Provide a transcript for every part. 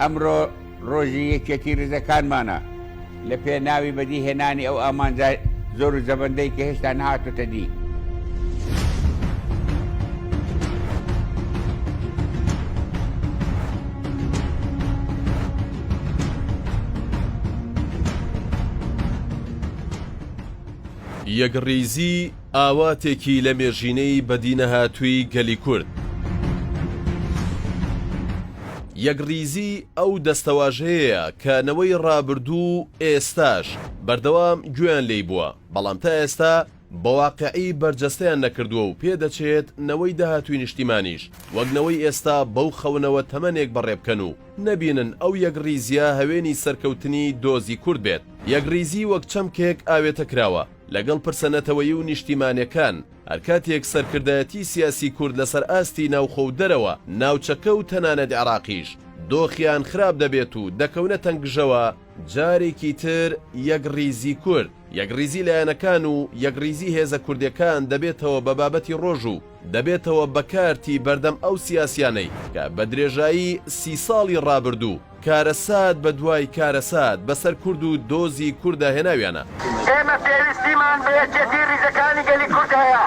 ئەمڕۆ ڕۆژی یەکێتی ڕزەکانمانە لە پێ ناوی بەدی هێنانی ئەو ئامانجا زۆر و زەبندەی کە هێشتا نهاتۆتە دی. یەکڕیزی ئاواتێکی لەمێژینەی بەدینەهاتووی گەلی کورد. یەکڕیزی ئەو دەستەواژەیەیە کە نەوەی ڕابردوو و ئێستاش بەردەوام گوێیان لێی بووە، بەڵام تا ئێستا بە واقیعی بەرجەستەیان نەکردووە و پێدەچێت نەوەی داهاتووی نیشتیمانیش وەک نەوەی ئێستا بەو خەونەوە تەمەنێک بەڕێ بکەن و نەبینن ئەو یەکڕیزییە هەوێنی سەرکەوتنی دۆزی کورد بێت. یەکڕیزی وەک چەمکێک ئاوێتە کراوە. لەگەڵ پرسە نەتەوەیی و نیشتیمانێکان، هەرکاتێک سەرکردایەتی سیاسی کورد لەسەر ئاستی ناوخۆ و دەرەوە ناوچەکە و تەنانەت عێراقیش دۆخیان خراپ دەبێت و دەکەونە تەنگژەوە، جارێکی تر یەکڕیزی کورد، یەکڕیزی لایەنەکان و یەکڕیزی هێزە کوردێکان دەبێتەوە بە بابەتی ڕۆژ و دەبێتەوە بە کارتی بەردەم ئەو سیاسیانەی کە بە درێژایی سی ساڵی ڕابردوو، کارەسات بە دوای کارەسات بە سەر کورد و دۆزی کوردا هێناویانە. ئێمە پێویستیمان بە یەکێتی ریزەکانی گەلی کورد هەیە،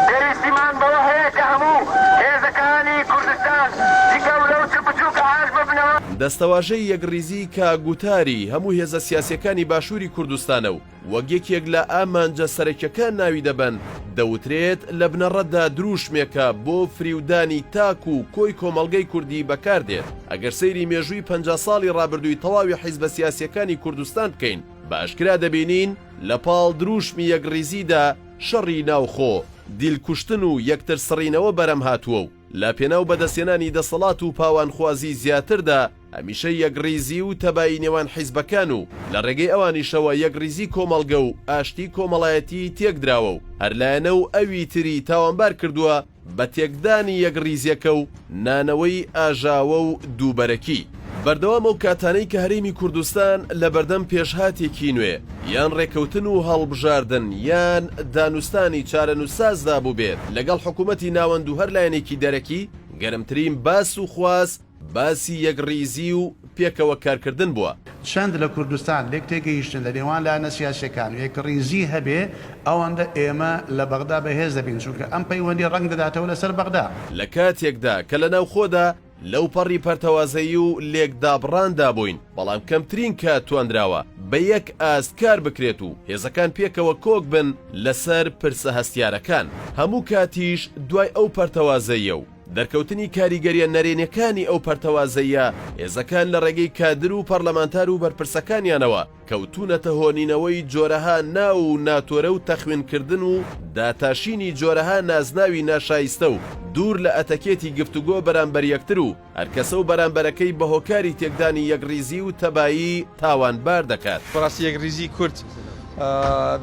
پێویستیمان بەوە هەیە کە هەموو هێزەکانی کوردستان چ گەورە و چ بچووک ئاش ببنەوە. دەستەواژەی یەکڕیزی کە گوتاری هەموو هێزە سیاسیەکانی باشووری کوردستانە و وەک یەکێک لە ئامانجە سەرەکیەکان ناوی دەبەن، دەوترێت لە بنەڕەتدا درووشمێکە بۆ فریودانی تاک و کۆی کۆمەڵگەی کوردی بەکاردێت، ئەگەر سەیری مێژووی پەنجا ساڵی ڕابردووی تەواوی حیزبە سیاسیەکانی کوردستان بکەین بە ئەشکرا دەبینین لە پاڵ درووشمی یەکڕیزیدا شەڕی ناوخۆ، دیل کوشتن و یەکتر سڕینەوە بەرەم هاتووە و. لە پێناو بەدەستهێنانی دەسەڵات و پاوانخوازی زیاتردا، هەمیشە یەکڕیزی و تەبایی نێوان حیزبەکان و لە ڕێگەی ئەوانیشەوە یەکڕیزی کۆمەڵگە و ئاشتی کۆمەڵایەتیی تێکدراوە و هەر لایەنە و ئەوی تری تاوانبار کردووە بە تێکدانی یەکڕیزییەکە و نانەوەی ئاژاوە و دووبەرەکی بەردەوام ئەو کاتانەی کە هەرێمی کوردستان لە بەردەم پێشهاتێکی نوێ یان ڕێکەوتن و هەڵبژاردن یان دانوستانی چارەنوسسازدا بووبێت لەگەڵ حکوومەتی ناوەند و هەر لایەنێکی دەرەکی، گەرمترین باس و خواست باسی یەکڕیزی و پێکەوە کارکردن بووە. چەند لە کوردستان لێکتێگەیشتن لە نێوان لایەنە سیاسییەکان و یەکڕیزی هەبێ، ئەوەندە ئێمە لە بەغدا بەهێز دەبین، چونکە ئەم پەیوەندییە ڕەنگ دەداتەوە لەسەر بەغدا. لە کاتێکدا کە لە ناوخۆدا، لەوپەڕی پەرتەوازەیی و لێکدابڕاندا بووین، بەڵام کەمترین کات توانراوە بە یەک ئاست کار بکرێت و هێزەکان پێکەوە کۆک بن لەسەر پرسە هەستیارەکان. هەموو کاتیش دوای ئەو پەرتەوازەییە و دەرکەوتنی کاریگەرییە نەرێنیەکانی ئەو پەرتەوازەییە، هێزەکان لە ڕێگەی کادر و پەرلەمانتار و بەرپرسەکانیانەوە، کەوتوونەتە هۆنینەوەی جۆرەها ناو و ناتۆرە و تەخوینکردن و داتاشینی جۆرەها نازناوی ناشایستە و دوور لە ئەتەکێتی گفتوگۆ بەرامبەر یەکتر و هەرکەسە و بەرامبەرەکەی بە هۆکاری تێکدانی یەکڕیزی و تەبایی تاوانبار دەکات. بەڕاستی یەکڕیزی کورد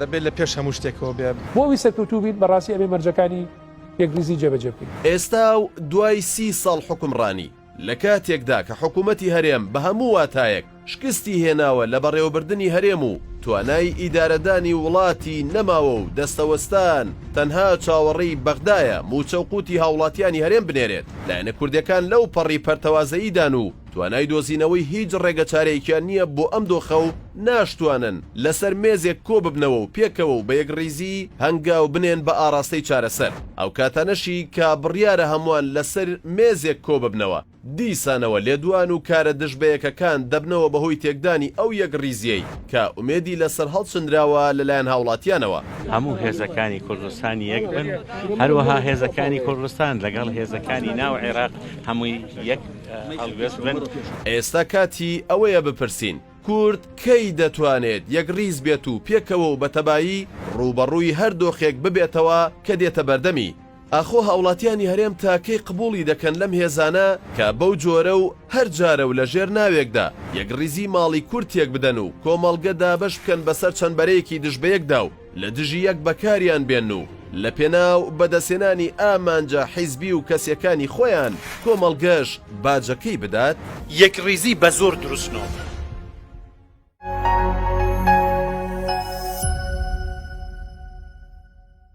دەبێت لە پێش هەموو شتێکەوە بێت. بۆ ئەوەی سەرکەوتوو بین بەڕاستی ئەبێ مەرجەکانی یەکڕیزی جێبەجێ بکەین. ئێستا و دوای سی ساڵ حوکمڕانی، لە کاتێکدا کە حکوومەتی هەرێم بە هەموو واتایەک شکستی هێناوە لە بەڕێوەبردنی هەرێم و توانای ئیدارەدانی وڵاتی نەماوە و دەستەوەستان تەنها چاوەڕێی بەغدایە مووچە و قووتی هاوڵاتیانی هەرێم بنێرێت، لایەنە کوردەکان لەو پەڕی پەرتەوازەییدان و توانای دۆزینەوەی هیچ ڕێگەچارەیەکیان نییە بۆ ئەم دۆخە و ناشتوانن لەسەر مێزێک کۆببنەوە و پێکەوە و بە یەکڕیزی هەنگاو بنێن بە ئاڕاستەی چارەسەر. ئەو کاتانەشی کە بڕیارە هەمووان لەسەر مێزێک کۆببنەوە، دیسانەوە لێدوان و کارە دژبەیەکەکان دەبنەوە بەهۆی تێکدانی ئەو یەکڕیزییەی کە ئومێدی لەسەر هەڵچنراوە لەلایەن هاوڵاتیانەوە. هەموو هێزەکانی کوردستان یەک بن، هەروەها هێزەکانی کوردستان لەگەڵ هێزەکانی ناو عێراق هەمووی یەک هەڵوێست بن. ئێستا کاتی ئەوەیە بپرسین، کورد کەی دەتوانێت یەکڕیز بێت و پێکەوە و بە تەبایی ڕووبەڕووی هەر دۆخێک ببێتەوە کە دێتە بەردەمی؟ ئاخۆ هاوڵاتیانی هەرێم تا کەی قبوڵی دەکەن لەم هێزانە کە بەو جۆرە و هەر جارە و لە ژێر ناوێکدا یەکڕیزی ماڵی کورد تێکبدەن و کۆمەڵگە دابەش بکەن بەسەر چەند بەرەیەکی دژ بەیەکدا و لە دژی یەک بەکاریان بێن و لە پێناو بەدەستهێنانی ئامانجە حیزبی و کەسیەکانی خۆیان کۆمەڵگەش باجەکەی بدات؟ یەکڕیزی بە زۆر دروست نۆبوو.